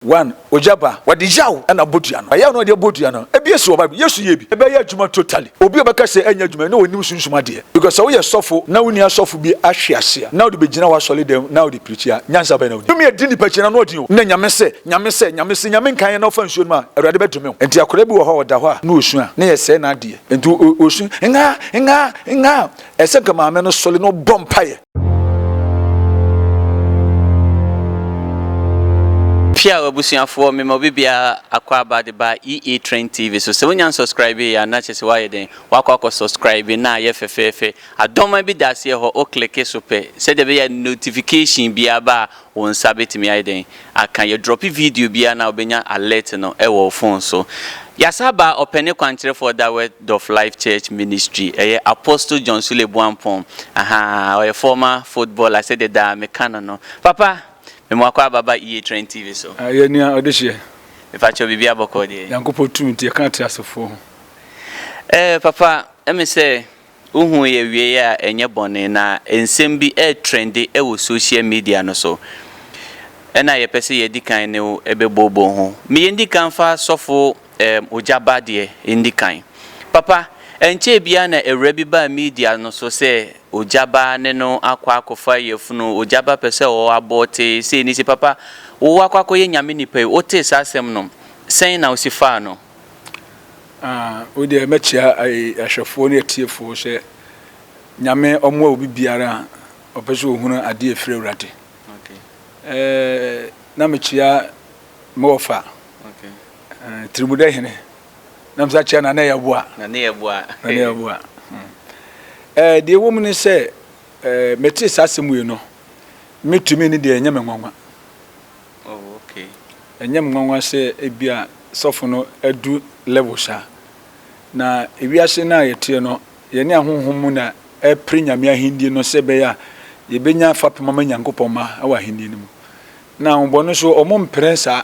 One, Ogya ba, wɔde yaw na abɔ dua no. Ɛyaw na wɔde abɔ dua no, ebi esi wɔ Bible mu. Yesu yɛɛ bi. Ɛbɛyɛ adwuma totally. Obi a ɔbɛka sɛ ɛnyɛ adwuma yi, na onnim sunsum adeɛ. Because sɛ woyɛ sɔfo na wonni asɔfo bi ahwe ase a, na wode bɛgyina w'asɔredɛm na wode preachi a, nyansa bɛn na wonim? Tumi a ɛdi nnipa akyi no, anoɔden o, na Nyame sɛ, Nyame sɛ, Nyame se Nyame nkaeɛ na wofa nsuo nom a, Awurade bɛdome wo. Enti akwadaa bi wɔ hɔ a, ɔda hɔ a, na ɔsua, na yɛsɛe n'adeɛ. Enti ɔsu, Nhaa! Nhaa! Nhaa! Ɛsɛ nka maame no sɔre na ɔbɔ mpaeɛ. Piaw abusuafoɔ, mema obi biara akwaaba de ba EA Trend TV so. Sɛ wonya nsɔskraibe yɛ a, na kyerɛ sɛ woayɛ dɛn? Woakɔ akɔ sɔskraibe na ayɛ fɛfɛɛfɛ. Adɔma bi da aseɛ hɔ, wo kleke so pɛ, sɛdeɛ ɛbɛyɛ a notification biara ba a, Wo nsa bɛtumi ayɛ dɛn aka? Yɛ drɔpe video biara na wobɛnya alert no wɔ wo phone so. Yɛasan aba Ɔpɛne Kwankyerɛfoɔ da Word of Life Church Ministry, ɛyɛ Apostle John Sule Boampong, ahaa, ɔyɛ former footballer sɛdeɛ daa meka no no. Papa, me moakɔ aba ba EA Trend TV so. Ah, yɛ nua Ɔdehyeɛ. Mepakyɛw biribi abɔkɔɔ deɛ? Nyankopɔn tumi nti yɛka ateasefoɔ ho. Eh, papa, ɛme sɛ Wohuu yɛ wiei a ɛnyɛ bɔne, na nsɛm bi ɛretrendi wɔ social media no so. Ɛna yɛpɛ sɛ yɛdi kan ne wo bɛbooboo ho. Me yɛndi kan mfa sɔfo ɛɛm Ogyaba deɛ ndi kan. Papa, ɛnkyɛɛ biara na awura bi baa media no so sɛ Ogyaba ne no akɔ akɔfa yafunu, Ogyaba pɛ sɛ ɔwɔ abɔɔtee, sei ne sei. Papa, wo akɔ akɔyɛ Nyame nipa yi, wotee saa asɛm no, sɛn na wosi faa no? Wei deɛ mɛkyia ahwɛfoɔ ne atiefoɔ sɛ Nyame ɔmoa obi biara a ɔpɛ sɛ ɔhunu adeɛ ɛfiri Awurade. Na mekyia Mofa Tirimudɛ hene na mesa kyia Nana Yɛboa. Nana Yɛboa. Nana Yɛboa. Deɛ ɛwɔ mu ne sɛ metee saa asɛm wei no metumi ne deɛ ɛnyɛ me nwanwa. Oh okay. Ɛnyɛ me nwanwa sɛ ebia sɔfo no adu level saa. Na wiase no a yɛteɛ no, yɛne ahonhom mu na ɛrepere Nyame ahenni no sɛ ɛbɛyɛ a yɛbɛnya fapem ama Nyankopɔn mma wɔ ahenni no mu. Na ahonbɔne nso wɔmpere saa.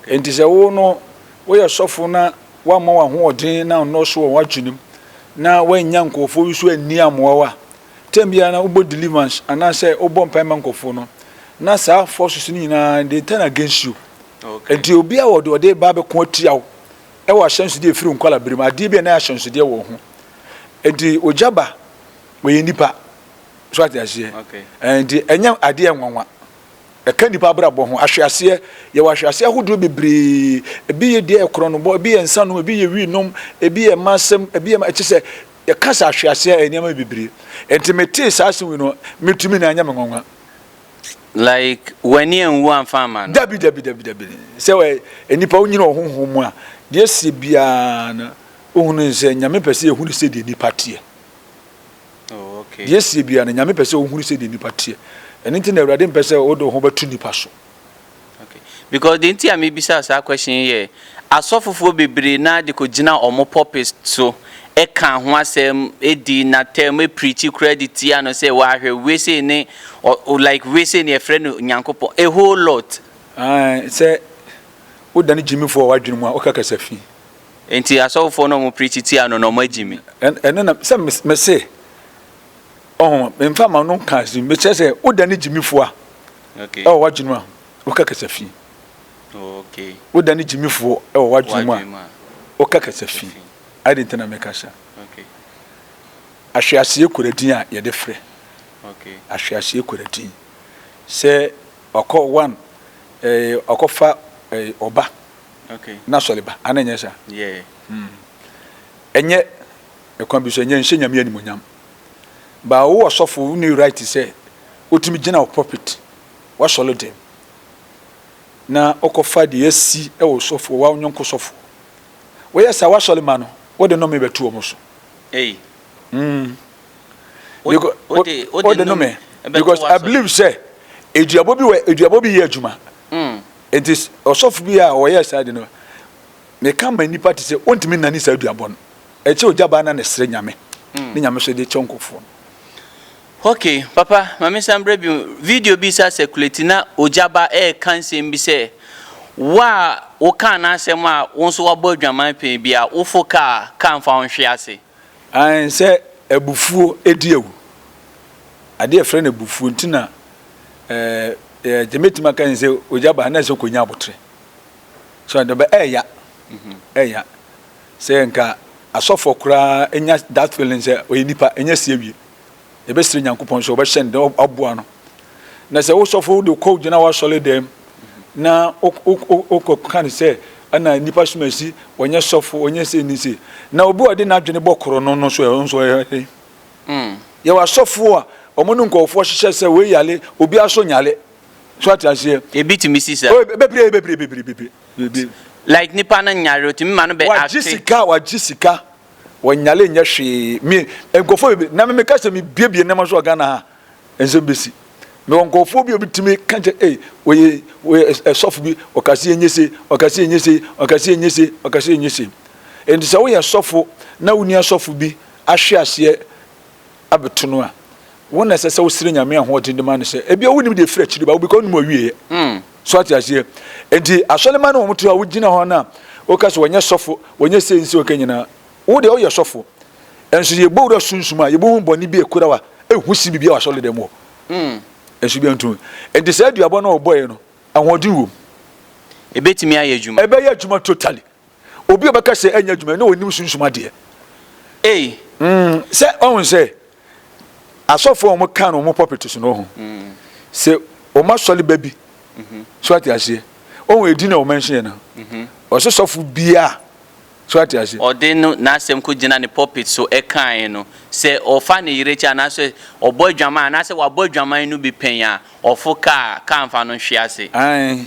Enti sɛ wo no woyɛ sɔfo na woamma w'ahoɔden no annɔɔso wɔ w'adwenem na woannya nkurɔfoɔ nso anni amoa wo a, Term biara na wobɔ deliverance anaasɛ wobɔ mpae ma nkurɔfoɔ no, na saa forces no nyinaa they turn against you. Okay. Nti obi a wɔde ɔde ba bɛko atia wo ɛwɔ ahyɛnsodeɛ ɛfiri nkwala bere mu adeɛ bi a na ahyɛnsodeɛ wɔ ho. Nti ogya ba wɔyɛ nipa so ate aseɛ. Okay. Eh, nti ɛnyɛ adeɛ nwanwa ɛka nipa abrabɔ ho ahweaseɛ yɛwɔ ahweaseɛ ahodoɔ bebree ebi yɛ deɛ ɛkorɔ no bɔ ebi yɛ nsa nom ebi yɛ wi nom ebi yɛ mma asɛm ebi yɛ ɛkyɛ sɛ Kasa hwe ase a ɛyɛ nneɛma bebree. Enti metee saa asɛm wei no, me tumi na ɛnyɛ me nwanwa. Like w'ani anwu amfa amma no? Dabi, dabi, dabi, dabi. Sɛ ɔyɛ nnipa a onyini wɔ honhom mu a, deɛ ɛsɛ biara no, wohu no sɛ Nyame pɛ sɛ yɛhu no sɛdeɛ nnipa teɛ. Deɛ ɛsɛ biara no, Nyame pɛ sɛ wohu no sɛdeɛ nnipa teɛ. Ɛno nti na Awurade mpɛ sɛ wode wo ho bɛto nnipa so. Okay. Because the nti a mebisa saa question yi yɛ asɔfofoɔ bebree naa de kɔgyina wɔn pulpit so ɛka ho asɛm ɛdi n'atɛm ɛpirikyi koraa de tia no sɛ wahwɛ wesei ne ɔ- ɔ- like wesei ne ɛfrɛ no nyankopɔn a whole lot Ah, sɛ wodane gyimifoɔ wɔ w'adwene mu a woka kasa fi nti asɔfofoɔ no a wɔn pirikyi tia no na wɔn agyi mi Ɛn- ɛno na sɛ mes- mese ɔho memfa ma no nka asɛm mekyerɛ sɛ wodane gyimifoɔ a wɔ w'adwene mu a, woka kasafi. Wodane gyimifoɔ wɔ w'adwene mu a, woka kasafi. Ade nti na meka sa. Ahweaseɛ kura din a yɛde frɛ. Ahweaseɛ kura din. Sɛ ɔkɔ one, ɔkɔfa ɔba na sɔleba, ana nyɛ sa? Ɛnyɛ ɛkwan bi so, ɛnyɛ nhyɛ nyame animonyam. Ba wo ɔsɔfo wonni right sɛ otumi gyina wo pulpit, w'asɔre dɛm, na ɔkɔfa deɛ asi wɔ ɔsɔfoɔ, w'awo nyɔnko sɔfoɔ. Woyɛ saa w'asɔre ma no, wode nome bɛto wɔn so. Ei. Mm. Because, wode, wode nome because I believe sɛ eduabɔ bi wɔ eduabɔ bi yɛ adwuma. Mm. Nti ɔsɔfo bi a ɔyɛ saa de no. Ne ka ma nnipa te sɛ ontumi nnane saa duabɔ no. Ɛkyɛ ogya baa na ne srɛ nyame ne nyame so de kyɛ nkurɔfoɔ no. Ok papa ma me san brɛ bio video bi sa circulate na ogya ba ɛɛka nsɛm bi sɛ wo a wo kaa n'asɛm a wo nso wabɔ adwaman pɛn bi a wo fo kaa kaa nfa wo nhwe ase. Aane, sɛ abufuo di awu. Adeɛ a yɛfrɛ no abufuo nti na ɛɛ deɛ mɛtumi aka ne sɛ ogya ba na ɛsɛ kɔnya aboterɛ. So ɛdɛ bɛ ɛɛya ɛɛya sɛ nka asɔfoɔ koraa nya that feeling sɛ ɔyɛ nipa ɛnya si awie. Yɛbɛsrɛ Nyankopɔn sɛ ɔbɛhyɛ no den, aboa no. Na sɛ wo sɔfo de kɔ gyina w'asɔre dɛm na wokɔka no sɛ ɛna nnipa som asi, ɔnyɛ sɔfo, ɔnyɛ sei ne sei. Na obi a ɔde n'adwene bɔ koro no no so ɛho nso ɛyɛ den. Mm. Yɛwɔ asɔfo a wɔn ne nkɔɔfoɔ hyehyɛ sɛ wei yale, obi aso nyale. So ate aseɛ? Ebi tumi si sa. Bebree, bebree, bebree, bebree. Like nipa no nyare, otumi ma no bɛ acte. Wagye sika, wagye sika. Wɔnyare nyɛ hwee. Me, nkurɔfoɔ bebree, na me meka sɛ mebuebue nneɛma nso wɔ Ghana ha a, nsɛm bɛsi. Mewɔ nkurɔfoɔ bi a wɔbɛtumi ka kyɛ, ei, wɔyɛ, wɔyɛ ɛsɔfo bi, ɔka sɛ yɛnyɛ sei, ɔka sɛ yɛnyɛ sei, ɔka sɛ yɛnyɛ sei, ɔka sɛ yɛnyɛ sei. Enti sɛ woyɛ sɔfo na wo nua sɔfo bi ahwe aseɛ abɛto no a, wo na ɛsɛ sɛ wosrɛ Nyame ahoɔden de ma no sɛ, ebia wonim deɛ ɛfiri akyiri ba wo, because wonnim awieɛ. So ate aseɛ? Enti asɔremma no wɔn to hɔ a wogyina hɔ no a woka sɛ wɔnyɛ sɔfo, wɔnyɛ sei nsei wɔka nyinaa. Wo deɛ woyɛ sɔfo. Nso yɛbɔ wura sunsum a yɛbɛhu bɔne bi a ɛkura wa ɛhu si biribi a wasɔre dɛm hɔ. Nso bi nto. Enti saa aduabɔ no a wɔbɔeɛ no ahoɔden wɔ mu. Ɛbɛtumi ayɛ adwuma? Ɛbɛyɛ adwuma totally. Obi a ɔbɛka sɛ ɛnyɛ adwuma na ɔnim sunsum adeɛ. Ei. Mm, sɛ ɔhu sɛ asɔfoɔ a wɔka no wɔn pulpit so no ɔhu. Mm. Sɛ wɔn asɔre ba bi. Mm-hmm. So ate aseɛ. Ɔhu edin a wɔmɛnhye yɛ no. Mm-hmm. Ɔsɛ sɔfo bia. So ate aseɛ. Ɔde no n'asɛm ko gyina ne pulpit so ɛkae no. Sɛ ɔfa ne yere kyɛ anaasɛ ɔbɔ adwaman anaasɛ wabɔ adwaman no bi pɛn a, ɔfo kaa kaa mfa no nhwe ase. Ae.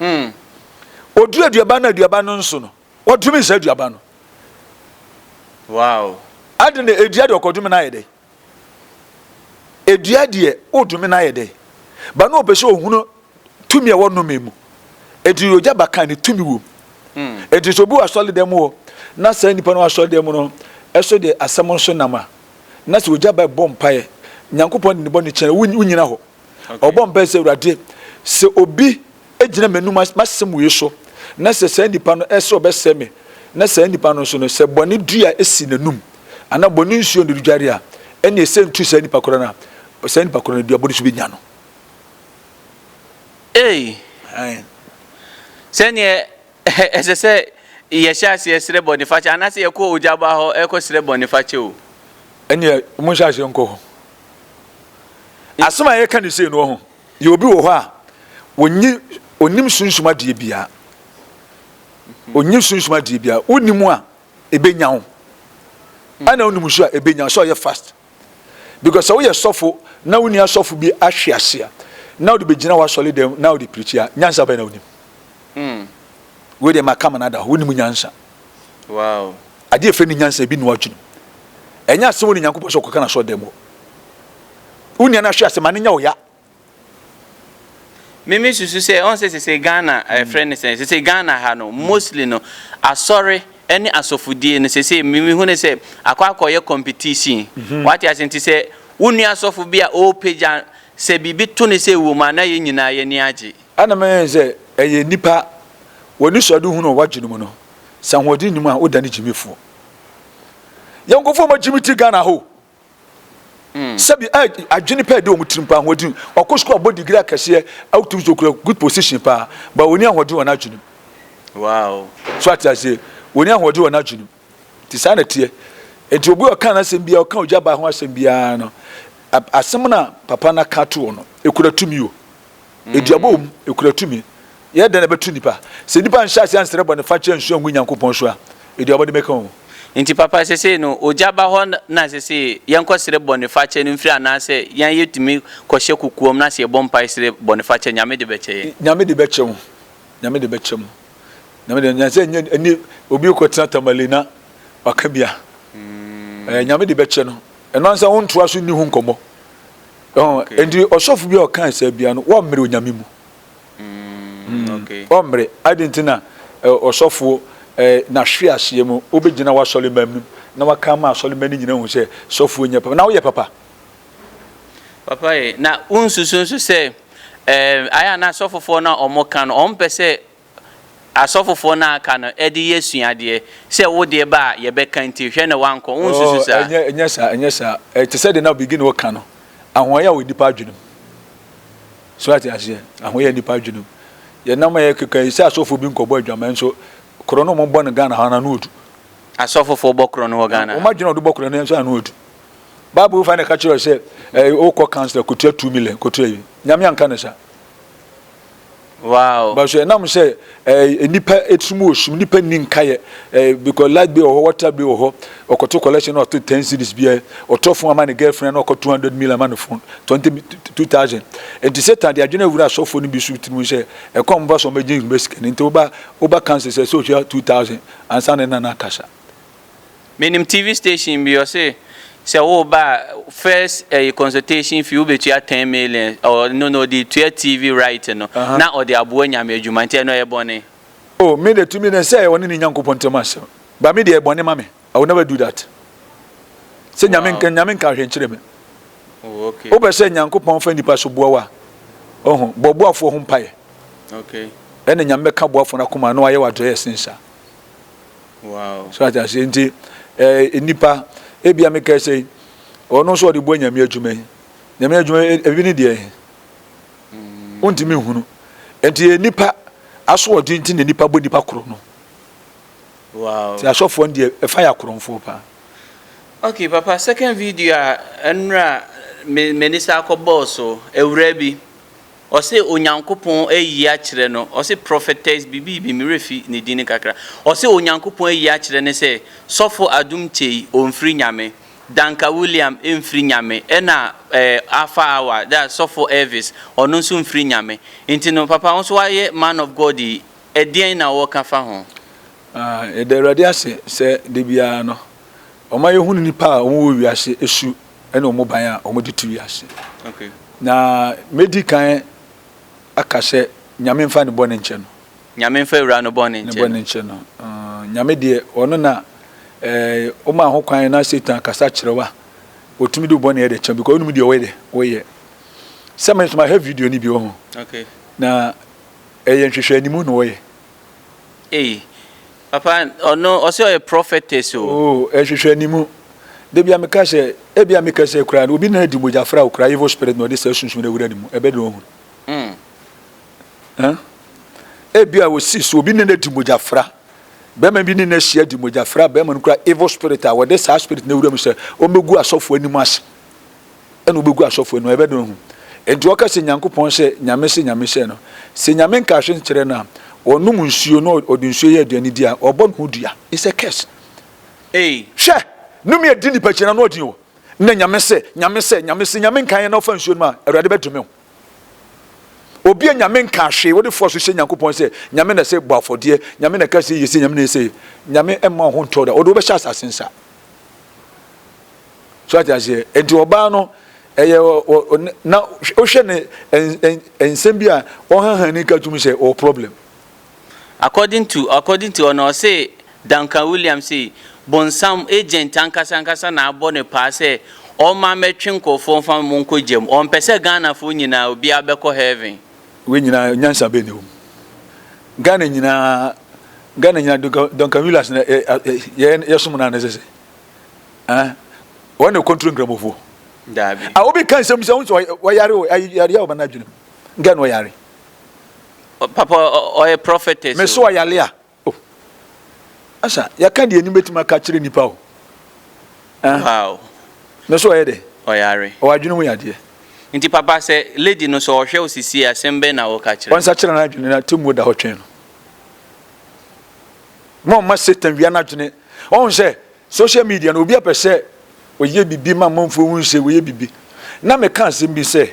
Mm. Ɔduru aduaba no, aduaba no nso no, wɔdome nsa aduaba no. Wow. Ade na edua deɛ ɔkɔdome no ayɛ dɛ. Edua deɛ wodome no ayɛ dɛ. Ba no ɔpɛ sɛ ɔhunu tumi a ɛwɔ nome mu. Eti yogya ba kan ne tumi wom. Mm. Eti sɛ obi wɔ asɔredɛm mu hɔ na saa nipa no wɔ asɔredɛm mu no ɛso deɛ asɛm nso nam a na sɛ ogya ba bɔ mpaeɛ Nyankopɔn de ne bɔ ne kyɛn wo nyina hɔ. Ɔbɔ mpae sɛ, Awurade, sɛ obi gyina m'anom as, m'asɛm wei so, na sɛ saa nipa no ɛsɛ sɛ ɔbɛsɛe me, na saa nipa no nso no, sɛ bɔne dua si n'anom, anaa bɔne nsuo na ɔredware a, ɛnneɛ ɛsɛntu saa nipa korɔ no a, saa nipa korɔ no dua bɔne nso bɛnya no. Ei! Ae. Sɛdeɛ Ɛsɛ sɛ yɛhyɛ aseɛ srɛ bɔnefakyɛ anaasɛ yɛkɔ ogya baa hɔ rekɔsrɛ bɔnefakyɛ o? Ɛnneɛ monhyɛ aseɛ nkɔ hɔ. Asɛm a yɛreka no sei no, ɔho, yɛ obi wɔ hɔ a, ɔnyi, ɔnnim sunsum adeɛ biara. Ɔnyi sunsum adeɛ biara. Wonim a, ɛbɛnya wo. Ɛna wonim nso a, ɛbɛnya wo. Sɛ ɔyɛ fast. because sɛ woyɛ sɔfo na wo nua sɔfo bi ahwe ase a na wode bɛgyina w'asɔre dɛm na wode pirikyi a nyansa bɛn na wonim hmm. wei deɛ maka ma no ada hɔ wonim nyansa wow. adeɛ ɛfɛ ne nyansa ebi noa dwenem ɛnyɛ asɛm wɔ ne nyankopɔn sɛ ɔkɔka no asɔre dɛm hɔ wo nua no ahwe ase ma no nya wo ya Me me susu sɛ ɔn sɛ sese Ghana ɛɛ frɛ ne sɛ sese Ghana ha no mostly no asɔre ɛne asɔfodie no sese me me hu ne sɛ akɔ akɔ yɛ competition wate ase nti sɛ wo nua asɔfo bi a ɔɔpagya sɛ biribi to ne sɛ ɛwɔ mu a na yɛn nyinaa yɛn ani agye. Ɛna me hu sɛ ɛyɛ nipa wɔ anisoade hunu a ɔwɔ adwene mu no sɛ ahoɔden nni mu a wo da no gyimifoɔ yɛn nkorɔfoɔ ɔmɔ gyimi ti Ghana ha o Sɛbi a adwene pɛ de wɔn tirim paa ahoɔden. Ɔkɔ sukuu abɔ digiri akɛseɛ awotumi so okura good position paa but ɔni ahoɔden wɔ n'adwene mu. Wow. So ate aseɛ? Ɔni ahoɔden wɔ n'adwene mu. Nti saa na teɛ. Nti obi ɔka n'asɛm biara ɔka ogya baa ho asɛm biara no asɛm na papa no aka ato hɔ no ekura tumi o. Aduabɔ wom, ekura tumi. Yɛyɛ dɛn na ɛbɛto nnipa? Sɛ nnipa nhyɛ aseɛ nsrɛ bɔne fakyɛ nsua ngu Nyankopɔn so a, aduabɔ no bɛka wɔn. Enti papa sesei no ogya ba hɔ na sesei yɛnkɔ srɛ bɔne fakyɛ no mfiri anaasɛ yɛn yɛtumi kɔ hyɛ kokoam na sɛ yɛbɔ mpae srɛ bɔne fakyɛ Nyame de bɛkyɛ yɛn? Nyame de bɛkyɛ wo. Nyame de bɛkyɛ mo. Nyame de nyansa nyɛ ani obi rekɔ tena Tamale na waka bi a ɛɛ Nyame de bɛkyɛ no. Ɛno ankasa wontoa so nni ho nkɔmmɔ. Nti ɔsɔfo bi a ɔka asɛm bia no wɔmmere onyame mu mm, mm, wɔmmere ade nti na ɔsɔfo n'ahwe aseɛ mu wobɛgyina w'asɔremma mu na waka ma asɔremma no nyina hu sɛ sɔfoɔ nyɛ papa na woyɛ papa papa ye na wonsusu nso sɛ ayɛ na asɔfofoɔ no a wɔka no wɔmpɛ sɛ asɔfofoɔ no a aka no de yɛ suadeɛ, sɛ wo deɛ ba a, yɛbɛka nti, hwɛ na woankɔ. Wonsusu saa? Oh, ɛnyɛ, ɛnyɛ saa, ɛnyɛ saa. Ɛte sɛ deɛ na Biggie no reka no, ahoɔyɛ a wɔ nnipa adwene mu. So ate aseɛ? Ahoɔyɛ a nnipa adwene mu. Yɛnam a yɛkeka yi, sɛ asɔfoɔ bi nkɔbɔ adwaman nso, korɔ no a wɔbɔ no Ghana ha no, ano ɔdu. Asɔfofoɔ bɔ korɔ no wɔ Ghana ha? Wɔn adwene a wɔde bɔ korɔ no nso ano ɔdu. Bible fa na ɛka kyerɛ sɛ, eh, wokɔ council, kɔtua two million, kɔtua yi. Nyame anka no saa. Wow. But so ɛnam sɛ ɛɛ nipa etirim wɔ sum nipa nni nkaeɛ ɛɛ because light bill wɔ hɔ water bill wɔ hɔ ɔkɔto collection na ɔto ten cities bi ɛ ɔtɔ phone ama ne girlfriend na ɔkɔ two hundred million ama ne phone twenty two thousand nti satan de adwene awura asɔfoɔ no bi so tirim sɛ ɛkɔ ɔmo ba so ɔmo agye nhoma sika no nti woba woba kansa sɛ sɛ ohwɛ two thousand ansa ne nana akasa Menim TV station bi ɔse sɛ woba a first ɛyi consultation fee wobɛtua ten million ɔno no ɔde tua TV right no uh -huh. na ɔde aboa nyame adwuma nti ɛno ɛyɛ bɔne. Oh me de tumi ne sɛ ɔne ne nyankopɔn ntam asɛm ba me de ɛyɛ bɔne ma me I will never do that sɛ nyame nka nyame nka ahwɛ nkyerɛ me oh, okay. wopɛ sɛ nyankopɔn fa nipa so boa wa ɔho bɔ boafoɔ ho mpaeɛ okay. ɛna nyame bɛka boafoɔ no akoma na wayɛ wadɔyɛ sensa Wow. So ate aseɛ nti eh, nipa ebia me kɛse ɔno nso ɔde bɔ nyame adwuma yi nyame adwuma e, ebi ne deɛ mm. wontumi nhunu nti yɛ nipa asoɔden nti na nipa bɔ nipa koro no wow. nti asɔfoɔ no deɛ ɛfa yɛ akorɔmfoɔ paa okay papa second video a ɛnora me m'ani sa akɔ bɔɔl so awura bi Ɔse Onyankopɔn ayi akyerɛ no, ɔse prophetess bibiibi me werɛ fi ne din no kakra, ɔse Onyankopɔn ayi akyerɛ no sɛ sɔfo Adum Kyei ɔnfiri Nyame, Danka William mfiri Nyame ɛna eh Alfa Awa that's sɔfo Elvis ɔno nso mfiri Nyame, nti no papa wo nso wayɛ man of God yi ɛdeɛn na wɔka fa ho? Ah yɛda Awurade ase sɛ da biara no ɔma yɛhunu nnipa a wɔwɔ wiase su ne wɔn ban a wɔde to wiase. Na medi kan aka sɛ, Nyame mfa ne bɔne nkyɛ no. Nyame mfa awura no bɔne nkyɛ no. Ne bɔne nkyɛ no. Nyame deɛ, ɔno na ɔmaa ho kwan na Satan kasa kyerɛ wa. Ɔtumi de bɔne yɛ kyɛ because ɔnum deɛ ɔyɛ dɛ, ɔyɛ. Sɛ me nso mahwɛ video no bi wɔ ho. Na ɛyɛ nhwehwɛ animu na ɔyɛ. Ei papa ɔno ɔsɛ ɔyɛ prophetess o. Oh ɛhwehwɛ anim. Da bia meka sɛ ebia me kɛsɛ koraa no obi na adi mogya fra wo koraa evil spirit na ɔde saa sunsum no awura ne mu ɛbɛ dɛn ɔhunu. Huh? Ebia osi so obi ne no adi mogya fra. Bɛrima bi ne no ahyia adi mogya fra bɛrima no koraa evil spirit a wɔde saa spirit no awura mu sɛ ɔmmɛgu asɔfo anim ase. ɛna ɔbɛgu asɔfoɔ anim a yɛbɛdɔn ahu. Enti ɔka sɛ Nyankopɔn hyɛ Nyame se Nyame hyɛ no. Sɛ Nyame nka hwe nkyerɛ no a, ɔnom nsuo na ɔde nsuo yɛ aduane di a, ɔbɔ ne ho dua. It's a curse. Ei! Hwɛ! Nome adi nipa kyiri na n'ɔden o. Nnɛ Nyame se, Nyame sɛ, Nyame se Nyame nka yɛ na ɔfa nsuo nom a, Awurade bɛdome wo. Obi a Nyame nka hwee, wode fɔɔ so hyɛ Nyankopɔn sɛ Nyame na sɛ bɔ afɔdeɛ, Nyame na ka sei yɛ sei, Nyame na yɛ sei. Nyame mma wo ho ntɔ wo da. Ɔde wo bɛhyɛ asase nsa. so ate aseɛ nti ɔbaa no ɛyɛ na wohwɛ ne nsɛm bi a ɔhahani ka tumi sɛ ɔwɔ problem according to according to ɔno ɔse Duncan Williams se bonsam agent ankasa ankasa na abɔ ne paa sɛ ɔma mɛtwe nkurɔfoɔ mfa mo nkɔ gyam ɔmpɛ sɛ Ghanafoɔ nyinaa obiara bɛkɔ heaven. Wei nyinaa nyansa bɛn na ɛwɔ mu Ghana nyinaa Ghana nyinaa Duncan Williams na yɛsom no anaa ɛsɛ sɛ Ah, wɔn na kɔntro nkramofoɔ. Daabi. Ah, obi ka nsɛm sɛ ɔn sɛ ɔyare o, yareɛ a ɔba n'adwenem. Nka na ɔyare. Papa, ɔyɛ prophetess o. Mese ɔyare a, oh. Asa, yɛka deɛ anim bɛtumi aka kyerɛ nipa o. Ah. Wow. Mese ɔyɛ dɛ. Ɔyare. Ɔwɔ adwene mu yadeɛ. Nti papa, sɛ lady no sɛ ɔhwɛ wo sisi asɛm bɛn na woka kyerɛ no? Ɔnsa kyerɛ n'adwene na temmuo da hɔ twɛn no. Mɔmma Satan wia n'adwene. Ɔhu sɛ Social media no obi a pɛsɛ ɔyɛ bibi ma amanfoɔ hu sɛ wayɛ bibi na me ka asɛm bi sɛ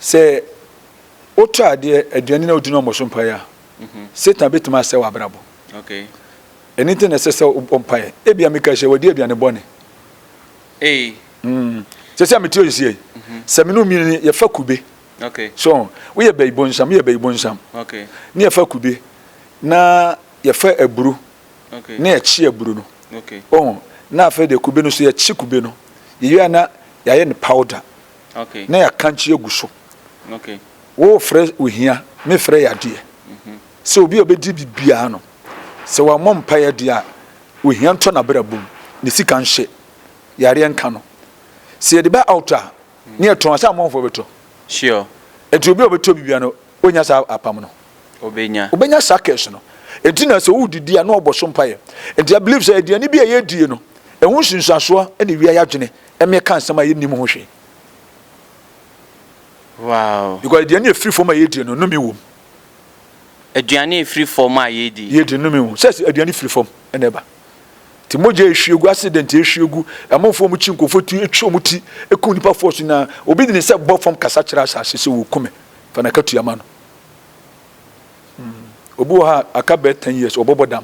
sɛ wo tɔ adeɛ aduane na wodi no ɔmɔ so mpaeɛ a Satan bɛtumi asɛ wɔ abrabɔ ɛno nti na ɛsɛ sɛ wobɔ mpaeɛ ebia meka sɛ wadi aduane bɔne mm. sɛ sɛ mete ɔyi sɛ sɛ me no mmienu yɛfa kube so woyɛ bɛyi bonsam woyɛ bɛyi bonsam ne yɛfa kube na yɛfa aburo na yɛkye aburo no. Ohu? Na afei deɛ kube no nso yɛkye kube no. Yɛwie a na yɛayɛ no powder na yɛakankye agu so. Wofrɛ ohia, mefrɛ yadeɛ. Mhm. Sɛ obi a ɔbɛdi biribiara no, sɛ wammɔ mpaeɛ adeɛ a, ohia ntɔ n'abrabɔ mu, ne sika nhyɛ, yareɛ nka no. Sɛ yɛde ba altar a, Ne yɛtɔn a saa amonfoɔ bɛtɔ. Sure. Enti obi a ɔbɛtɔ bibia no ɔnya saa apam no. Ɔbɛnya. Ɔbɛnya saa curse no. Enti na sɛ wodidi a na ɔbɔ so mpaeɛ. Enti I believe sɛ aduane bi a yɛdie no ɛho nsunsuasoɔ na ɛwia yɛ adwene ɛma yɛka nsɛm a yɛnnim ho hwee. Wow. Because aduane a ɛfiri fam a yɛdie no nome wom. Aduane a ɛfiri fam a yɛdie. Yɛdie nome wom. Sɛ aduane firi fam ɛna ɛba. Nti mogya a ehwie gu, accident a ehwie gu, amanfoɔ a wɔkyi nkurɔfoɔ ti, etwa wɔn ti, ekum nnipa force nyinaa, obi de ne nsa bɔ fam kasa kyerɛ asase sɛ wɔreku me, fa n'akatua ma no. Mm. Obi wɔ ha aka bɛyɛ ten years ɔbɔbɔ dam.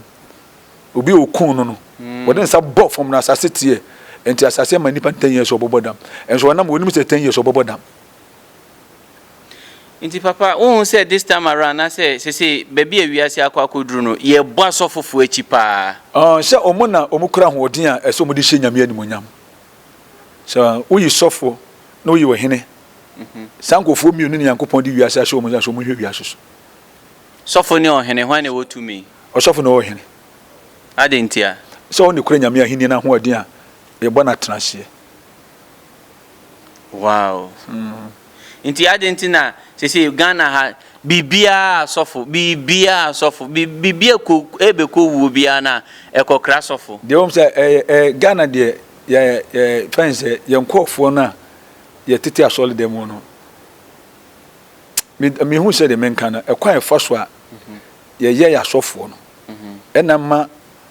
Obi a okun no no, mm. wɔde nsa bɔ fam na asase teɛ. Nti asase ma nnipa ten years ɔbɔbɔ dam. Nso ɔnam wɔnim sɛ ten years ɔbɔbɔ dam. Nti papa wonhu sɛ this time around anasɛ sesei baabi a wiase akɔ akɔduru no yɛbɔ asɔfofoɔ akyi paa. Aah sɛ ɔmo na ɔmo kura ahoɔden a ɛsɛ ɔmo de hyɛ Nyame animuonyam. Sɛ woyi sɔfoɔ na woyi ɔhene, saa nkorɔfoɔ mmienu na Nyankopɔn de wiase ahyɛ ɔmo nsa sɛ ɔmo hwɛ wiase so. Sɔfo ne ɔhene hwan na ɛwɔ tumi? Ɔsɔfo na ɔwɔ ɔhene. Adɛn ntia? Sɛ ɔno na ɛkura Nyame ahennie no ahoɔden a yɛbɔ no atenaseɛ. Wow nti adeɛ nti na sese Ghana ha biribiara sɔfo biribiara sɔfo biribiara ko ɛbɛkɔ wuo biara na ɛkɔkra sɔfo. Deɛ wɔn sɛ ɛyɛ ɛɛ Ghana deɛ yɛ yɛ fɛn sɛ yɛn nkorɔfoɔ no a yɛ tete asɔre dɛm mu no me hu sɛ deɛ menka no ɛkwan ɛfa so a yɛyɛ yɛ asɔfoɔ no ɛna ma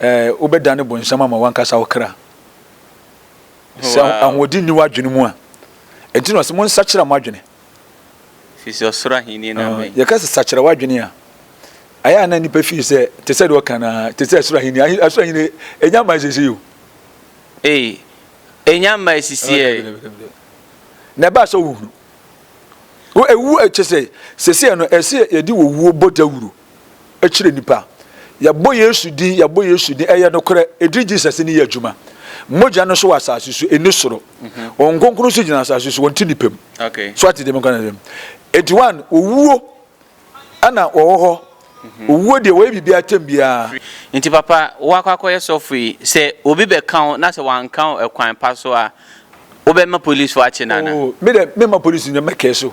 Ɛɛ, wobɛdane bonsam ama w'ankasa wo kra sɛ ahoɔden nni w'adwene mu a. Enti na ɔse, Monsakyera mo adwene. Efisɛ ɔsoro ahenni no abɛn. Yɛka sɛ sakyera w'adwene a, ayɛ a na nnipa feel sɛ te sɛ deɛ ɔka no ara, te sɛ soro ahenni. Soro ahenni, ɛnya mmae seesei o. Ei, ɛnya mmae seesei ɛ. Dabi, dabi, dabi. Na ɛba a sɛ wohunu. Wo, ɛwu, kyerɛ sɛ, seesei no, ɛsɛ yɛde owuo bɔ dawuro. kyerɛ nnipa. Yɛbɔ Yesu din, yɛbɔ Yesu din, ɛyɛ nokorɛ, ɛdin Jesus no yɛ adwuma. Mogya no so wɔ asase so, ɛnni soro. Mhm. Wɔn nkonkron nso gyina asase so, wɔn ti nnipa mu. Okay. So ate deɛ menkɔ no Enti one, owuo ɛna wɔwɔ hɔ. Mhm. Owuo deɛ wɔyɛ biribi atɛm biara. Nti papa, woakɔ akɔyɛ sɔfo yi, sɛ obi bɛka wo na sɛ wanka wo ɛkwan pa so a, wobɛma polisifoɔ akye no anaa? Oh, me dɛ, mema polisi nyɛ mɛkɛɛ so.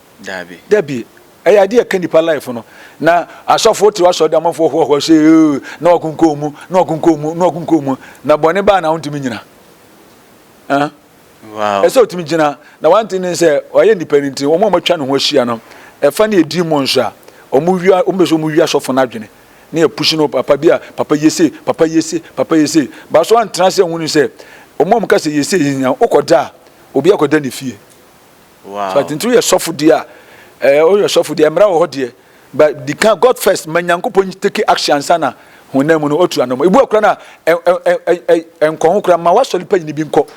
Dabi. Dabi. Ɛyɛ ade a ɛka nnipa life no. Na asɔfo tew asɔre dɛm amanfoɔ hoahoa sɛ ee na wakunkun mu, na wakunkun mu, na wakunkun mu. Na bɔne baa na wontumi nyina. Huh? Wow. Ɛsɛ otumi gyina. Na one thing ne sɛ ɔyɛ nnipa no nti wɔn a wɔatwa ne ho ahyia no ɛfa ne edin mu nso a wɔn wia wɔn bɛ sɛ wɔn wia asɔfo no adwene ne yɛ push no papa bi a papa yese papa yese papa yese baaso antena sɛ nhunu sɛ wɔn a wɔn ka sɛ yese yi nya okɔda a obi akɔda ne fie. So ade nti woyɛ sɔfo deɛ a, ɛɛ woyɛ sɔfo deɛ mmara wɔ hɔ deɛ, but di kan God first, ma Nyankopɔn take action ansa na honam mu no otu anam. Ebu akora na ɛ ɛ ɛ ɛ nkɔ ho kora, ma w'asɔre panyin bi nkɔ.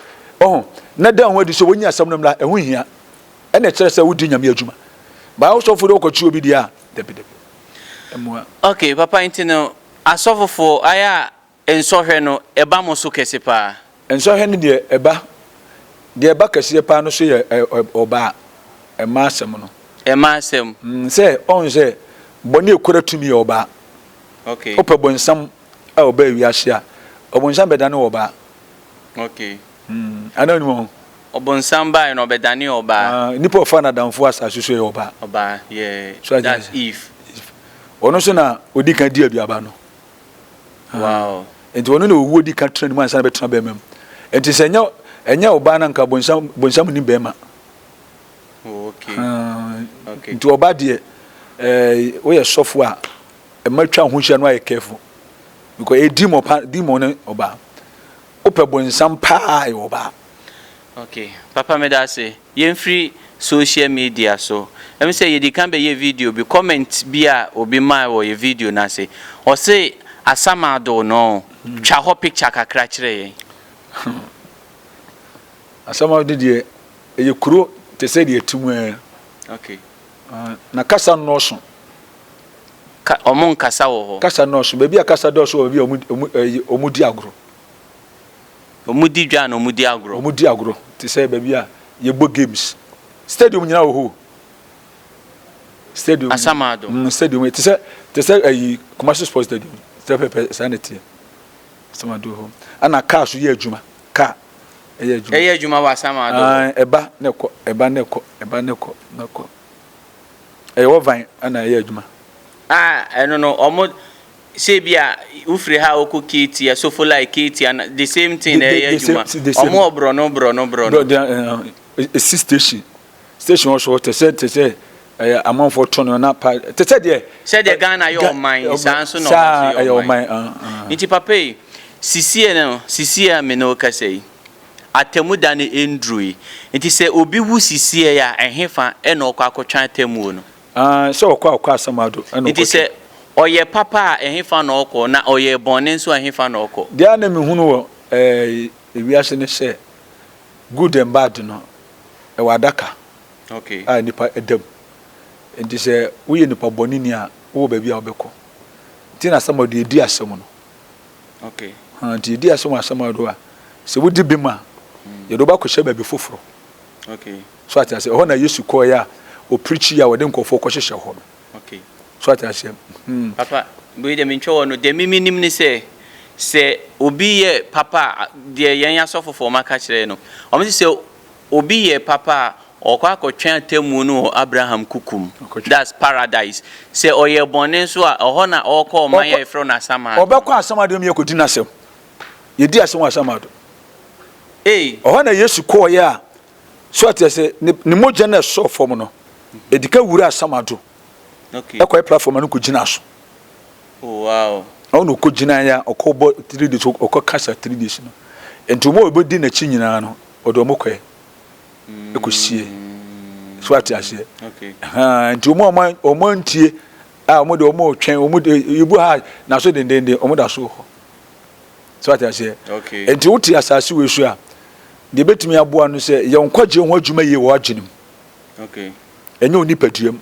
Ɔho, na da ho adi sɛ wonyi asɛm no mmra, ɛho hia. Ɛna ɛkyerɛ sɛ wodi Nyame adwuma. Ba wo sɔfo de wokɔ kyi obi deɛ a, dabi dabi. Ɛmoa. Okay, papa nti no asɔfo fo ayɛ a Nsɔhwɛ no, ɛba mo so kɛse paa. Nsɔhwɛ no deɛ ɛba. Deɛ ɛba kɛseɛ paa no so yɛ ɔbaa, mmaa asɛm no. Mmaa asɛm. Mm, sɛ, ɔhu sɛ, bɔne a ɛkura tumi yɛ ɔbaa. Ok. Wopɛ bonsam a ɔbaa wiase a, ɔbonsam bɛdane wɔ ɔbaa. Ok. Mm, anaa wonim ho? Ɔbonsam baeɛ no, ɔbɛdane ɔbaa. Ah, nipa ɔfaa n'adamfo wɔ asase so yɛ ɔbaa. Ɔbaa, yeah, that's Eve. Eve. Ɔno nso na ɔdi kan di aduaba no. Wow. Enti ɔno na owuo di ka tena ne mu ansa na bɛtena bɛrima mu. Enti sɛ ɛnyɛ ɛnyɛ ɔbaa no anka bonsam bonsam nni bɛrima. Oh, okay. Uh, okay. Nti ɔbaa deɛ eh, woyɛ sɔfo a ɛma twa ho hyia no ayɛ careful because ɛyɛ demon pa demon ne ɔbaa. Wopɛ bonsam paa ɛyɛ ɔbaa. Okay. Papa meda ase. Yɛmfiri social media so. Ɛm sɛ yɛdi kan bɛyɛ video bi, comment bi a obi mae wɔ yɛ video no ase. Ɔse Asamaa doo no oo, twa hɔ picture kakra kyerɛ yɛn. Hmm. Asamaa no deɛ, ɛyɛ kuro te sɛ deɛ ɛte mu ara. Okay. Ah, na kasa nnɔɔso. Ka, ɔmo nkasa wɔ hɔ? Kasa nnɔɔso. Baabi a kasa dɔɔso wɔ baabi a ɔmo, ɔmo, ɛyi, ɔmo di agorɔ. Wɔdi dwa na wɔdi agorɔ. Wɔdi agorɔ te sɛ baabi a yɛbɔ games. Stadium nyinaa wɔ hɔ o. Stadium. Asamado. Mm, stadium te sɛ te sɛ ayi Kumasi sports stadium. Sɛ pɛpɛ saa na ɛteɛ. Asamado hɔ. Ana kaa so yɛ adwuma. Kaa ɛyɛ adwuma. Ɛyɛ adwuma wɔ Asamado. Ae, ɛba na ɛkɔ, ɛba na ɛkɔ, ɛba na ɛkɔ, na ɛkɔ. Ɛyɛ wɔ van ɛna ɛyɛ adwuma. Ah, ɛno no, wɔn sɛ ebi a wofiri ha a wokɔ Keeti, Asofolai, Keeti ana, the same thing na ɛyɛ adwuma, wɔn wɔ borɔno borɔno borɔno. Esi station, station wɔ so te sɛ te sɛ ɛyɛ amanfoɔ tɔn no na pa te sɛ deɛ. Sɛdeɛ Ghana yɛ ɔman yi saa nso na wɔn nso yɛ ɔman. Nti papa yi, sisie no sisie a me ne wo kasa yi, atemmuda no nnurui, nti sɛ obi wu sisie a ɛhefa na ɔkɔ akɔtwɛn atemmuo no? Aane, sɛ ɔkɔ a, ɔkɔ asaman do na ɔkɔtɔ. Nti sɛ ɔyɛ papa a, ɛhefa na ɔkɔ? Na ɔyɛ bɔne nso a, ɛhefa na ɔkɔ? Deɛ a na mehunu wɔ wiase ne sɛ, good and bad no, ɛwɔ adaka a nnipa da mu. Nti sɛ woyɛ nipa bɔneni a, wowɔ baabi a wobɛkɔ. Nti na asaman do, yɛdi asɛm no. Haa, nti yɛdi asɛm wɔ asaman do a, sɛ wodi bem a, yɛde wo bɛakɔhyɛ baabi foforɔ. So ate aseɛ? Ɛhɔ na Yesu kɔɔeɛ a ɔpreachie a wɔde nkurɔfoɔ kɔhyehyɛ hɔ no. Okay. So ate aseɛ? Hmm. Papa, wei deɛ mentwa wɔ no. Deɛ me menim ne sɛ, sɛ obi yɛ papa a, deɛ yɛn asɔfofoɔ maka kyerɛ yɛn no, wɔn se sɛ obi yɛ papa a, ɔkɔ akɔtwɛn atemmuo no wɔ Abraham kuku mu. Ɔkɔtwɛn. That's paradise. Sɛ ɔyɛ bɔne nso a, ɛhɔ na ɔkɔ ɔman a Ɔkɔ- yɛfrɛ no Asamado. Ɔbɛkɔ Asamado mu yɛkɔdi n'asɛm. Yɛdi asɛm wɔ Asamado. Ei, Ɛhɔ na Yesu kɔɔeɛ a So ate ase ne ne mogya na ɛsɔɔ fam no, edi ka wuraa Sam Addo ɛkɔɛ platform na no kɔ gyina so. Oh wow. Ɔwɔ na ɔkɔ gyina ya ɔkɔ bɔ three days ɔkɔ kasa three days no. Nti ɔmo ɔbɛ di n'akyi nyinaa no ɔde ɔmo kɔɛ ɛkɔ sie. Mm. So ate aseɛ. Okay. Haa nti ɔmo ɔmo ɔmo ntie a ɔmo de ɔmo twɛn ɔmo de ebu ha na so dendenden ɔmo da so hɔ. So wate aseɛ? Enti wote asase wei so a, deɛ ɛbɛtumi aboa no sɛ yɛ nkwagyeɛ ho adwuma yie wɔ w'adwene mu. Ɛnyɛ wo nipadua mu.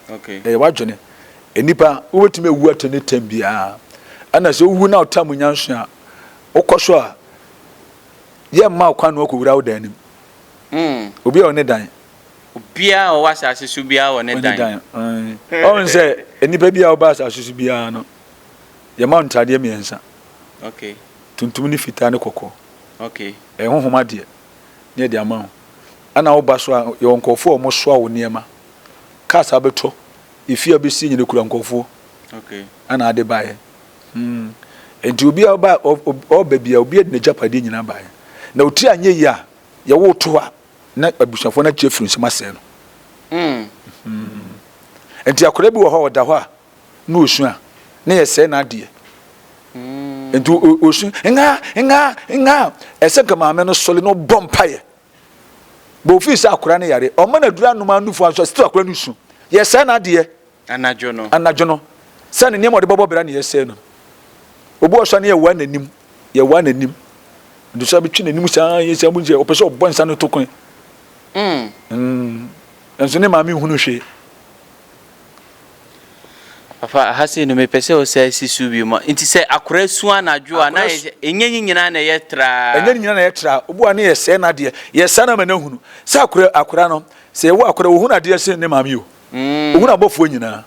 Ɛyɛ w'adwene. Nnipa, wobɛtumi awu at any time biara. Ɛna sɛ wowu na wotaa mu nyanso a, wokɔ so a, yɛ mma wo kwan na wakɔwura wo dan no mu. Hmm. Obi a ɔne dan. Obiara a ɔwɔ asase so biara wɔ ne dan. Ɔne dan. Ɔne sɛ nnipa bi a wɔba asase so biara no, Yɛma wo ntadeɛ mmiɛnsa. Okay. Tuntum ne fitaa ne kɔkɔɔ. Okay. Ɛyɛ honhom adeɛ ne yɛde ama wo. Ɛna woba so a yɛwɔ nkurɔfoɔ a wɔsoa wo nneɛma. Cars abɛtɔ, efie a bɛsie nyina kura nkurɔfoɔ. Okay. Ɛna ade baeɛ. Hmm. Nti obi a ɔba ɔba bia obi de n'agyapadeɛ nyinaa baeɛ. Na otiri anyɛ yie a yɛwo to hɔ a na abusuafoɔ no akyɛ firi nsam asɛe no. Hmm. Hmm. Nti akwadaa bi wɔ hɔ a ɔda hɔ a. na ɔsu a, na yɛsɛe n'adeɛ. Nti ɔsu, nga, nga, nga. Ɛsɛ nka maame no sɔre na ɔbɔ mpaeɛ. Bɔ ofii sɛ akora no yare, ɔma no aduru anom a nufu anso a, still akora no su. Yɛsɛe n'adeɛ. Anadwo no. Anadwo no. Sɛ ne nneɛma ɔde bɛbɔ bra na yɛsɛe no. Obi wɔ sɔ ne yɛwaa n'anim, yɛwaa n'anim. Nti sɛ bɛtwe n'anim saa, yɛ sɛ ɔpɛ sɛ ɔbɔ nsa no to kwan. Mm. Mm. Nso ne maame nhunu hwee. Papa, ha sei no mepɛ sɛ ɔsan si so bio ma. Nti sɛ akora su anadwo a, na ɛnyɛ ne nyinaa na ɛyɛ traa. Ɛnyɛ ne nyinaa na ɛyɛ traa. Obu a na yɛsɛe no adeɛ. Yɛsɛe no ama no ahunu sɛ akora, akora no, sɛ yɛwo akora, ɔhunu adeɛ sen ne maame o. Ɔhunu abɔfoɔ nyinaa.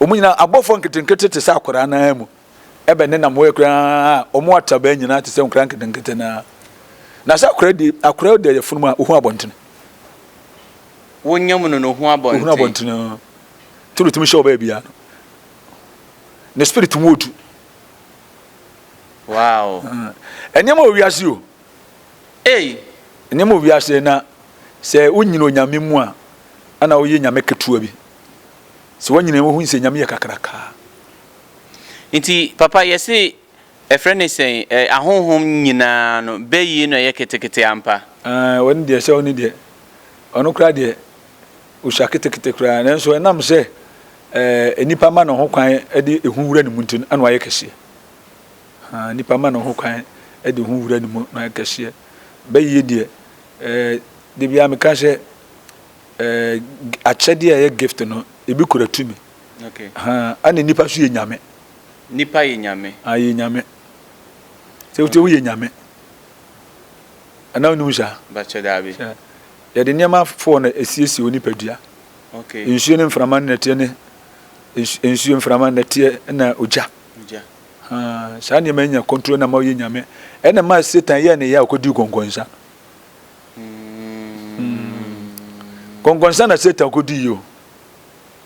Wɔn nyinaa, abɔfoɔ nketenkete te sɛ akora no ara mu. Ɛbɛ ne nam hɔ yɛ koraa, wɔn atabaa nyinaa te sɛ nkora nketenkete no ara. Na sɛ akora di, akora da yɛ funu mu a, ɔhunu abɔntene. wo nyam no no hu abɔnten. Nti na otumi hyɛ ɔbaa biara no ne spirit mu odu. Wow. Nneɛma wɔ wiase o. Ei. Nneɛma wɔ wiase na sɛ wonyina onyame mu a ana woyɛ nyame ketewa bi. Sɛ wanyina wohu sɛ nyame yɛ kakrakaa. Nti papa yɛse Ɛfrɛ no sɛn? Ɛ, ahonhom nyinaa no, bɛ yie no ɛyɛ ketekete ampa. Aane, wɔ ne deɛ, sɛ ɔne deɛ, ɔno koraa deɛ, ɔsua ketekete koraa, nanso ɛnam sɛ, ɛɛ, nnipa ma no ho kwan de ehu wura ne mu nti no, ɛna wayɛ kɛseɛ. Haa, nnipa ma no ho kwan de ehu wura ne mu na wayɛ kɛseɛ. Bɛ yie deɛ, ɛɛ, da biara meka sɛ, ɛɛ, akyɛdeɛ a ɛyɛ gift no, ebi kura tumi. Okay. Haa, ɛna nnipa nso yɛ nyame. Nipa yɛ nyame. Aah yɛ nyame. Sɛ wotie woyɛ nyame. Anaa wonnim saa? Bakyɛ daabi. Hwɛ, yɛde nneɛma foɔ na ɛsiesie wo nipadua. Okay. Nsuo ne mframa ne nɛteɛ ne nsuo mframa nɛteɛ na ogya. Ogya. Haa, saa nneɛma nya control na ma woyɛ nyame. Ɛna ma Satan yɛ ne yɛ a ɔkɔdii kɔnkɔnsa. Mm. Kɔnkɔnsa na Satan kɔdii yi o.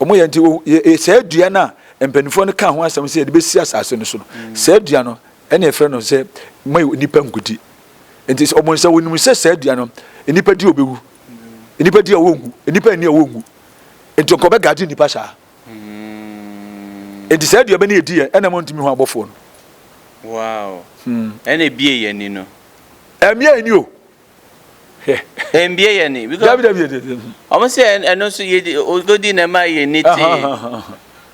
Wɔyɛ nti, wo, yɛ, yɛ saa dua no a mpanimfoɔ no kaa ho asɛm sɛ yɛde bɛsi asase no so no, mm. saa dua no, ɛna ɛfrɛ no sɛ ma nnipa nkudi. Nti sɛ wɔn sɛ wɔnim sɛ saa dua no, nnipa di ɔbɛwu, nnipa di a wɔnwu, nnipa nni a wɔnwu. Nti nkɔbɛ gaadi nnipa saa. Nti saa dua bɛ ne yɛdi yɛ, ɛna mo ntumi ho abɔfoɔ no. Wow. Hmm. Ɛna ebie yɛ ni no. Ɛmia yɛ ni o. Mbie yɛ ni. Dabi dabi yɛ dede. Ɔmo sɛ ɛno nso yɛ di ogodi na ɛma yɛ ni te.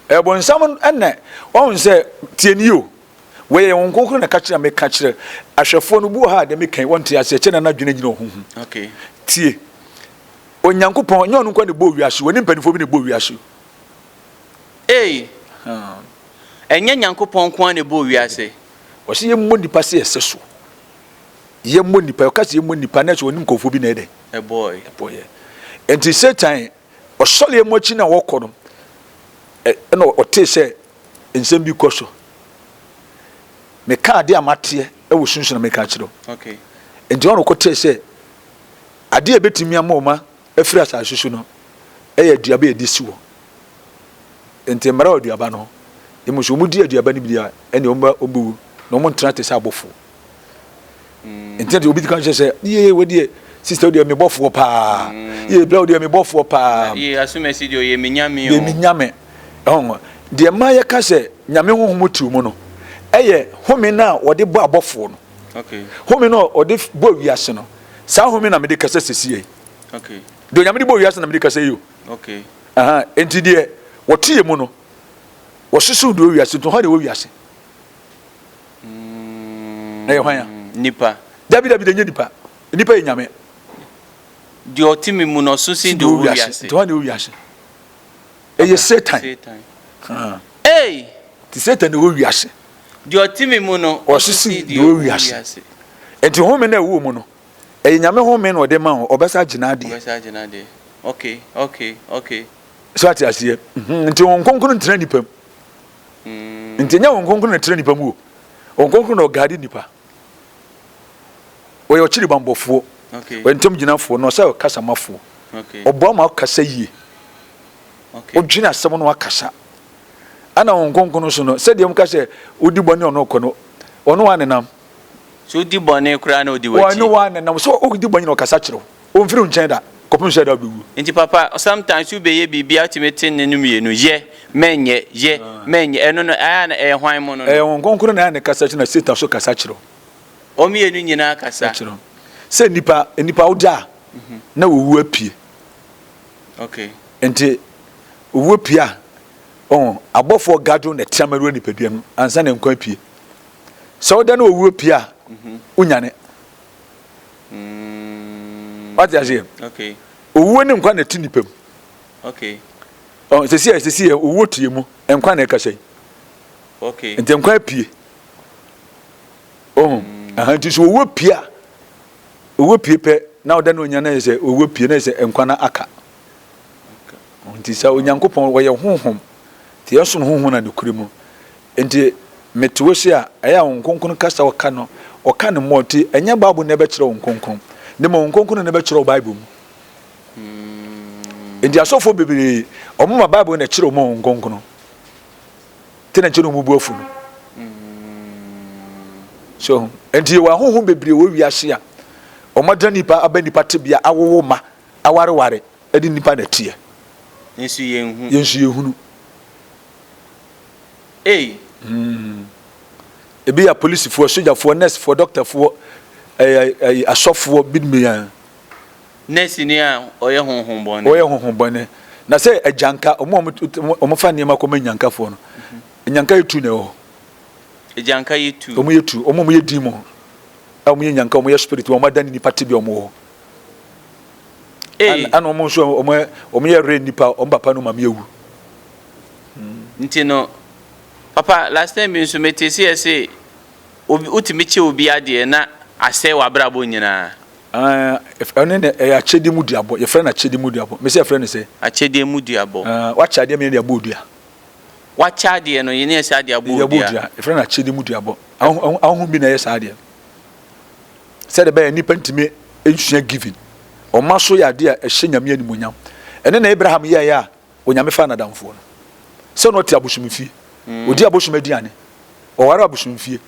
Ɛbɔnsam ɛnɛ wɔn sɛ tie ni o wɔyɛ yɛn wɔn nkonkoro na kakyere na mi kakyere ahwɛfoɔ no bu ha dɛ mi kɛn wɔn te ase ɛkyɛ na na dwene gyina ɔho ho tie onyankopɔn nyɛ ɔno nkɔ na bɔ wiase wɔn ni mpanimfoɔ bi na bɔ wiase. Ee ɛnyɛ nyankopɔn nko na bɔ wiase. Wɔsi yɛ mmɔ nipa se ɛsɛ so. yɛmmɔ nnipa, ɔka sɛ yɛmmɔ nnipa, na sɛ ɔne nkurɔfoɔ bi na ɛdɛ. Ɛbɔɔe. Ɛbɔɔeɛ. Enti Satan, ɔsɔreɛ mu akyi na wɔkɔ no, ɛna ɔtee sɛ nsɛm bi kɔ so. Meka adeɛ a mateɛ ɛwɔ sunsun na meka akyerɛ wo. Okay. Enti ɔno kɔ tee sɛ adeɛ a ɛbɛtumi ama ɔma afiri asase so no ɛyɛ aduaba a ɛde si hɔ. Enti mmara wɔ aduaba no ho. Emu sɛ wɔn di aduaba no bi a ɛne wɔn bɛwu na wɔn ntena te sɛ abɔfoɔ. ntina deɛ obi ti ka nkyɛn sɛ yie wɔ deɛ sista deɛ mi bɔfoɔ paa yie bla deɛ mi bɔfoɔ paa yie asumasi deɛ ɔyɛ mi nyame o deɛ mi nyame ɛhɔn deɛ mmaa yɛ ka sɛ nyame huhumu tiw mu no ɛyɛ home no a wɔde bɔ abɔfoɔ no home no a wɔde bɔ wiase no saa home na mede kasa sisi yɛ deɛ onyame de bɔ wiase na mede kasa yɛ o nti deɛ wɔte yɛ mu no wɔsoso deɛ wɔ wiase nti hɔ deɛ wɔ wiase Na yɛ hwan a? Nipa. Dabi dabi da nye nipa. Nipa yɛ nyame. Deɛ ɔte me mu na ɔso sin deɛ ɔwɔ wiase. Nti hwan na ɛwɔ wiase? Ɛyɛ Satan. Satan. Hey! Nti Satan na ɛwɔ wiase. Deɛ ɔte me mu no ɔso sin deɛ ɔwɔ wiase. Nti home na ɛwɔ mu no ɛyɛ nyame home na ɔde ma wo ɔbɛsa agye n'adeɛ. Ɔbɛsa agye n'adeɛ. Okay, okay, okay. So ate aseɛ? Nti Honhom Kronkron ntena nipa mu. Nti ɛnyɛ Honhom Kronkron na ɛtena nnipa mu o. Honhom Kronkron na ɔgaade nnipa. Ɔyɛ ɔkyiri bammɔfoɔ, ɔyɛ ntam gyinafoɔ, na ɔsɛ ɔkasamafoɔ. Ɔboa ma ɔkasa yie. Ɔdwene asɛm no wakasa. Ɛna Honhom Kronkron no so no, sɛdeɛ wɔn ka sɛ odi bɔne ɔno ɔkɔ no, ɔno wa nenam. So odi bɔne koraa na odi w'akyi. Ɔno wa nenam. So odi bɔne na ɔkasa kyerɛw. Omfiri wo nkyɛn da, kɔpem sɛ da a ɔbɛwuo. Nti papa sometimes wo bɛyɛ biribi a wo tumi te nne no mmienu yɛ mɛnyɛ yɛ mɛnyɛ ɛno no ɛyɛ a na ɛyɛ hwan mono no. Ɛyɛ Honhom Kronkron na ɛyɛ a na ɛkasa kyerɛ na Satan nso kasa kyerɛ wo. Wɔn mmienu nyinaa kasa. Kyerɛ wo sɛ nnipa nnipa wo gya a na ɔwu apue. Okay. Nti ɔwu pue a ɔho abɔfoɔ gadwo na ɛte amaruo nnipadua no ansa na nkwa apue. Sɛ wo da na ɔwu apue a wo nyane. wate aseɛ owuo ne nkwa na ɛte nipa mu sɛsi a sɛsi yɛ owuo tie mu nkwa na ɛkasa yi nti nkwa apue ohun aha nti so owuo pie a owuo pie pɛ na ɔda ne onya na yɛ sɛ owuo pie na yɛ sɛ nkwa na aka nti sɛ onyankopɔn wɔyɛ honhom nti yɛsono honhom na ne kure mu Enti mete wo se a, ɛyɛ a Honhom Kronkron kasa a ɔka no, ɔka no mmɔ. Enti ɛnyɛ Bible na ɛbɛkyerɛ wo Honhom Kronkron, na mmom Honhom Kronkron na ɛbɛkyerɛ wo Bible mu. Enti asɔfoɔ bebree, wɔma Bible na ɛkyerɛ wɔn Honhom Kronkron. Te na nkyɛ na wɔbu afu no. So, enti yɛwɔ ahonhom bebree wɔ wiase a wɔadra nipa aba nipa tebea, awowo mma, awareware, ɛde nipa na ɛteɛ. Yɛn nso yɛnhunu. Yɛn nso yɛnhunu. ei. Hmm. Ebi yɛ apolisifoɔ, sogyafoɔ, nɛɛsefoɔ, dɔktafoɔ, ɛɛ, eh, ɛɛ, eh, asɔfoɔ, binom yɛ. Nɛɛseni a ɔyɛ honhom bɔne. Ɔyɛ honhom bɔne. Na sɛ agyanka, wɔn a wɔfa nneɛma kɔma nyankafoɔ no, nyanka yɛ tu na ɛwɔ hɔ. Agyanka yɛ tu. Wɔn yɛ tu, wɔn a wɔyɛ demon, a wɔn yɛ nyanka, wɔn yɛ spirit, wɔn adan nipa tebea wɔn wɔ hɔ. Ana wɔn nso wɔn yɛ rɛ nipa, wɔn papa no maame awu. Nti no papa last time bi nso metee se yɛse obi wotumi kyɛ obi adeɛ na asɛe wabrabɔ nyinaa. Aah ɛno ne ɛyɛ akyɛdeɛ mu duabɔ yɛfrɛ no akyɛdeɛ mu duabɔ mese yɛfrɛ no sɛ. Akyɛdeɛ mu duabɔ. Aah wakyɛ adeɛ meyɛ de abɔ odua. Wakyɛ adeɛ no yɛne yɛse ade abɔ odua. Yɛbɔ odua yɛfrɛ no akyɛdeɛ mu duabɔ ahonhom bi na ɛyɛ saa adeɛ no sɛdeɛ ɛbɛyɛ nnipa ntumi nsua giving ɔma so yɛ adeɛ a ɛhyɛ Nyame animuonyam ɛno na Abraham yɛeɛ a Onyame faa n'adamfoɔ no sɛ na ɔte abosomfie, ɔdi abosom aduane, ɔware abosomfie,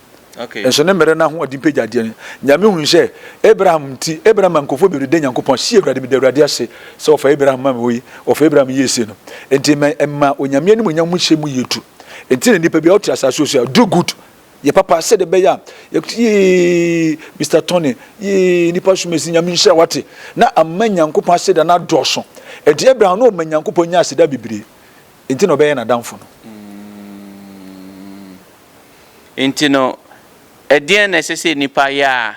nso ne mmerɛ no ahoɔden pagya adeɛ no. Nyame hunu sɛ Abraham nti, Abraham ma nkurɔfoɔ bɛbrɛ da Nyankopɔn, si Awurade, meda Awurade ase sɛ ɔfa Abraham ma me wɔ yi, ɔfa Abraham yɛɛ sei no, nti ɛma Onyame animuonyam mu hyɛ mu yie tu. Nti na nipa biara ɔte asaase wɔ so a, do good, Yɛ papa sɛdeɛ ɛbɛyɛ a yɛbɛte Yee Mister Tony Yee nipa som asi Nyame nhyira wate na ama Nyankopɔn aseda no adɔɔso Ɛnti Abraham na ɔma Nyankopɔn nyaa aseda bebree Ɛnti na ɔbɛyɛɛ n'adamfo no. Ɛnti no ɛdeɛn na ɛsɛ sɛ nipa yɛ a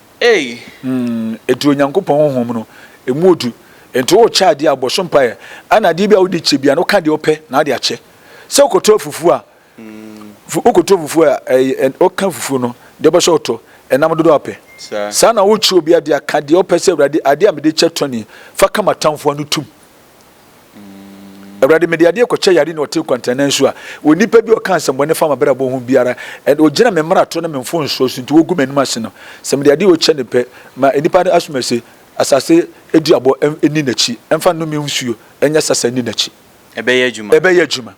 Ei! Enti Onyankopɔn honhom no, emu odu. Enti worekyɛ adeɛ a, bɔ so mpaeɛ. Ɛna adeɛ bi a wode kyɛ biara no, woka deɛ wopɛ na wode akyɛ. Sɛ wokɔtɔ afufuo a, wokɔtɔ afufuo a, ɛɛ, woka afufuo no, deɛ wopɛ sɛ wotɔ, ɛnam dodoɔ a wopɛ. Saa na worekyɛ obi adeɛ a, ka deɛ wopɛ sɛ, Awurade, adeɛ a mede kyɛ tɔ nie, fa ka m'atamfoɔ ano tom. Awurade, mede adeɛ kɔkyɛ yare na ɔte kwantanan so a, onipa bi a ɔka nsɛmbɔne fa m'abrabɔ ho biara, ɛna ɔgyina me mmarato ne me mfomsoɔ so nti wɔgu m'anim ase no, sɛ mede adeɛ ɔkyɛ no pɛ, ma nnipa no asome se, Asase duabɔ nni n'akyi, ɛmfa nnome nsuo nyɛ sasa nni n'akyi. Ɛbɛyɛ adwuma. Ɛbɛyɛ adwuma.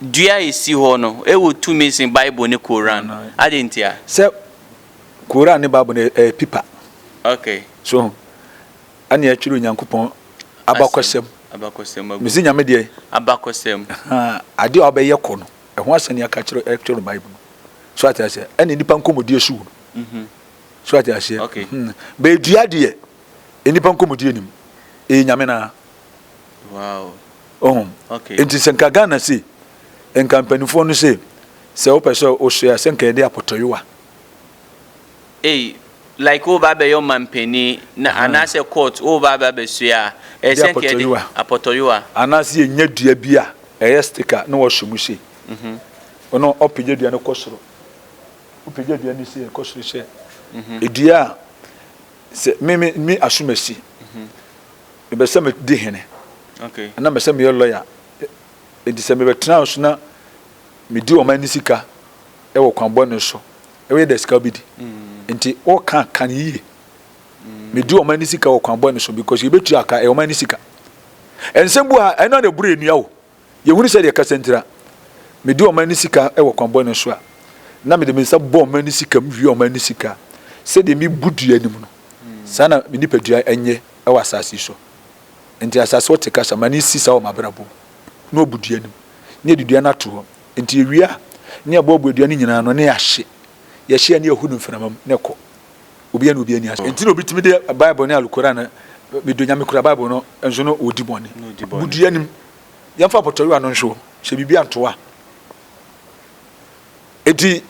Dua a esi hɔ no wɔ tumi sen Bible ne Koran. Adɛn ntia? Sɛ Koran ne Bible no yɛ pipa. Okay. So ho? Ɛne ɛtwerɛ Onyankopɔn abakɔsɛm. Abakɔsɛm agu. Mesi Nyame deɛ? Abakɔsɛm. Adeɛ a ɔbɛyɛ kɔ no, ɛho asɛm ne aka kyerɛ ɛtwerɛ Bible no. So ate aseɛ? Ɛne nnipa nkɔmmɔdie so wɔ mu. So ate aseɛ? Okay. Bɛɛ dua deɛ, nnipa nkɔmmɔdie nim. Ɛyɛ Nyame no ara. Wow. Ohun. Okay. Nti sɛ nka Ghana se, nka mpanimfoɔ no se, sɛ wopɛ sɛ wosoɛ a, sɛ nka yɛde apɔtɔyewa. Ei, like wo ba bɛyɛ ɔmampanin na anaasɛ court wo ba ba bɛsoɛ a, ɛyɛ sɛ nka yɛde apɔtɔyewa. Anaasɛ yɛnya dua bi a ɛyɛ sticker na wɔahyɛ mu sei. Mhm. Ɔno ɔpagya dua no kɔ soro. Wopagya dua no sei, ɛkɔ soro hyɛ. Mhm. Dua a Sɛ me me me asom asi. Mebɛ sɛ me di hene. Ana mɛ sɛ me yɛ lɔya. Enti sɛ mebɛ tena nso na me di ɔman no sika wɔ kwan bɔne so. Wo yɛ dɛ sika bi di. Enti wo ka ka no yie. Me di ɔman no sika wɔ kwan bɔne so because yɛ bɛ tua ka ɛyɛ ɔman no sika. Nsɛm bu ha ɛno na ɛboro ɛnua o. Yɛhunu sɛdeɛ kasa ntira. Medi ɔman no sika wɔ kwan bɔne so a, na mede me nsa bɔ ɔman no sika mu wia ɔman no sika. Sɛdeɛ mebu dua anim no, saa na me nipadua nyɛ wɔ asase yi so. Enti asase ɔte kasa ma no si saa wɔ m'abrabɔ mu, na ɔbu dua anim, na yɛde dua no ato hɔ. Enti yɛwie a, na yɛboaboa dua no nyinaa ano, na yɛahye. Yɛhye a, na yɛhu no mframa mu, na ɛkɔ. obiara ne obiara ani ase nti na obi tumi de bible ne alukora no medo nyame kura bible no nso no ɔdi bɔne budua anim yɛmfa pɔtɔyewa no nso hyɛ biribi antoa enti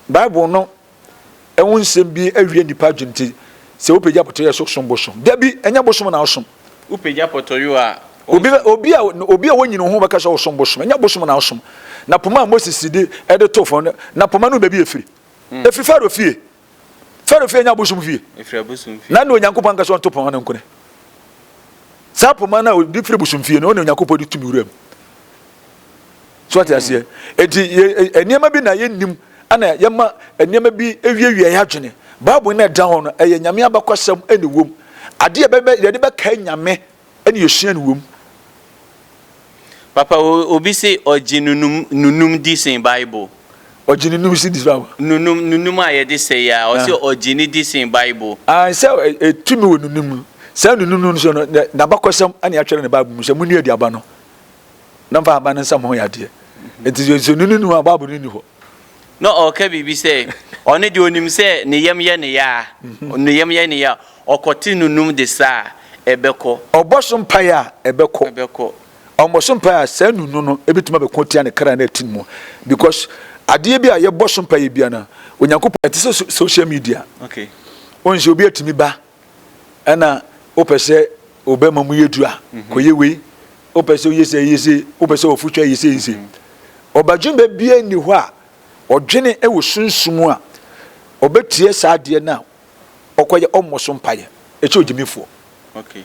bible no ɛho nsɛm bi awie nnipa adwene nti sɛ wopagya pɔtɔyewa so som bosom da bi ɛnyɛ bosom na wosom wopagya pɔtɔyewa obi obi a obi a wonyini ho bɛka sɛ wosom bosom ɛnyɛ bosom na wosom na poma a moses de ɛde to fam na poma no baabi efiri efiri faro fie Farao fie nyɛ abosom fie. Na ɛna Onyankopɔn anka sɛ ɔnto poma no nkone. Saa poma no a obi firi bosom fie no, ɔna Onyankopɔn de tumi wura mu. So ate aseɛ? Enti e, e, nneɛma bi na yɛnnim ana yɛma nneɛma bi ewiewia yɛ adwene. Bible na ɛda hɔ no, ɛyɛ Nyame abakɔsɛm ɛna ɛwom. Adeɛ yɛde bɛkae Nyame Ɛne osua no wom. Papa obi se ɔgye nunum nunum di sen bible. Ɔgye nunum se di sen bible. Nunum nunum a yɛde sɛ yi a ɔse ɔgye ne di sen bible. Ae sɛ tumi wɔ nunum mu. Saa nunum no nso no n'abakɔsɛm na yɛatwerɛ no bible mu sɛ monua aduaba no na mfa ahaban no nsam ho yɛ adeɛ. Nti sɛ nunum nunum a bible no nni hɔ. na ɔreka biribi sɛ ɔno deɛ ɔnim sɛ ne yam yɛ ne yaa, ne yam yɛ ne yaa, ɔkɔte no num de sa a, ɛbɛkɔ. Ɔbɔ so mpaeɛ a, ɛbɛkɔ. Ɛbɛkɔ. Ɔmmɔ so mpaeɛ a, saa nunu no bɛtumi abɛko atia ne kra na atim mu. Because adeɛ bi a yɛbɔ so mpaeɛ biara no, Onyankopɔn, ɛte sɛ social media. Okay. Wohu sɛ obi atumi ba. Ɛna wopɛ sɛ wobɛma mu yɛ duru a, mhm. kɔyɛ wei. Wopɛ sɛ woyɛ sɛ yɛ se, wopɛ sɛ wɔfo twa yɛ se nse. Mhm. Ɔbadwen bɛ bia nni hɔ a ɔdwene wɔ sunsum a ɔbɛtie saa adeɛ no a ɔkɔyɛ ɔmmɔ so mpaeɛ ɛkyɛ ogyimifoɔ. Okay.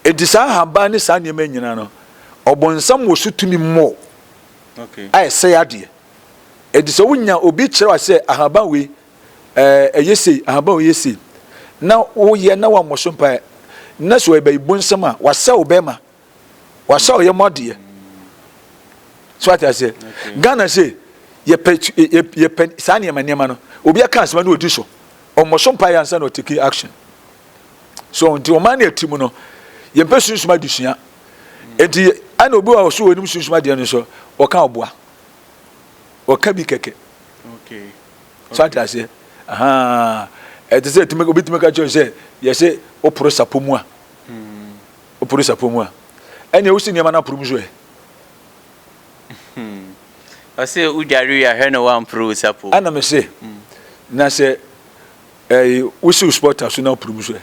Enti saa ahaban ne saa nneɛma nyinaa no ɔbɔnsam wɔ so tumi mmɔ okay. a ɛsɛe adeɛ. Enti sɛ wonya obi kyerɛ wa sɛ ahaban wei ɛɛ, ɛyɛ sei, ahaban a ɔyɛ sei, na woyɛ na wammɔ so mpaeɛ, na sɛ ɔyɛ bayibonsɛm a, wasa wo bɛrima, wasa ɔyɛ mu adeɛ. So ate aseɛ? Ghana sei, yɛpɛ yɛpɛ saa nneɛma nneɛma no, obi aka asɛm na ɔdi so. Ɔmmɔ so mpaeɛ ansa na ɔtake action. So nti ɔman no ɛte mu no, yɛmpɛ sunsum adesua. Nti ɛna obi wɔ so wɔ anim sunsum adeɛ no so, ɔka ɔboa. Ɔka bi kɛkɛ. Okay. So ate aseɛ? Ahaa. Ɛte sɛ tumi, obi tumi ka kyerɛ wo sɛ, yɛse woporo sapɔ mu a, woporo sapɔ mu a, ɛneɛ wosi nneɛma no aporo mu nso ɛ? Ɔse wodware wie a, hwɛ na woamporo wo sapɔ mu. Ɛna mese, na sɛ ɛyi, wosi wo spɔta so na woporo mu nso ɛ?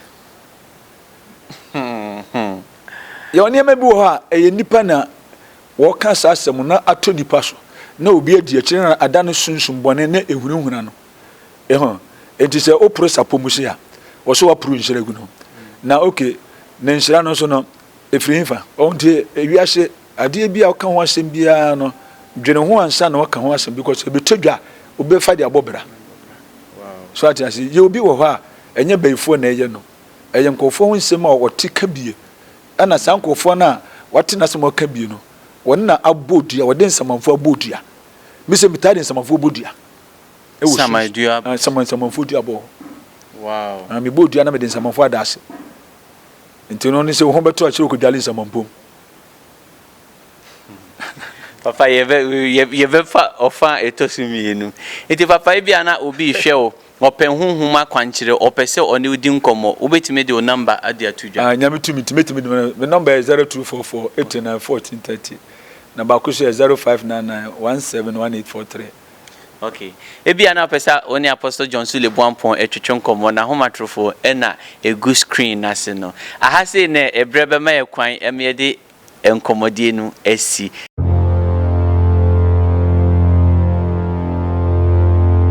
Yɛwɔ nneɛma bi wɔ hɔ a, ɛyɛ nnipa na. Wɔka saa asɛm no ato nnipa so na obi adi akyire na ada ne sunsum bɔne ne ahunahuna no ho enti sɛ woporo sapɔmusi a, wɔ sɛ woaporo nhyira gu no. Na ok, ne nhyira no nso no, ɛfiri hefa? Ɔho nti wiase adeɛ biara woka ho asɛm biara no, dwene ho ansa na woaka ho asɛm because ɛbɛtɔ dwa a, wobɛfa de abɔ bra. So ate ase? Yɛwɔ bi wɔ hɔ a, ɛnyɛ bayifoɔ na ɛyɛ no, ɛyɛ nkurɔfoɔ ho nsɛm a wɔte ka bie Ɛna saa nkurɔfoɔ no a wɔate n'asɛm a ɔka bie no, wɔn na abɔ dua, wɔde nsamanfoɔ abɔ dua. Me sɛ metaa de nsamanfoɔ bɔ dua. Ɛwɔ su. Saman dua. Ah, saman, nsamanfoɔ dua bɔ. Wow. Ah, mebɔ dua na mede nsamanfoɔ ada ase. Nti no, ne sɛ wo ho bɛtɔ akyerɛ wokɔdwale nsamanpom. Papa, yɛbɛ, yɛ, yɛbɛfa ɔfã a ɛtɔ so mmienu. Enti, papa, ebia na obi rehwɛ wo, ɔpɛ honhom akwankyerɛ, ɔpɛ sɛ ɔne wo di nkɔmmɔ. Wobɛtumi de wo nɔmba de ato dwa? Ah, Nyame tumi nti, mɛtumi de me nɔmba. Me nɔmba yɛ zero two four four eighty nine fourteen thirty, na baako nso yɛ zero five nine nine one seven one eight four three. Ok. Ebia na wopɛ sɛ wo ne Apostle John Sule Boampong twetwe nkɔmmɔ. N'ahomatorofo na ɛgu screen no ase no. Aha sei na ɛberɛ bɛma yɛn kwan ma yɛde nkɔmmɔdie no asi.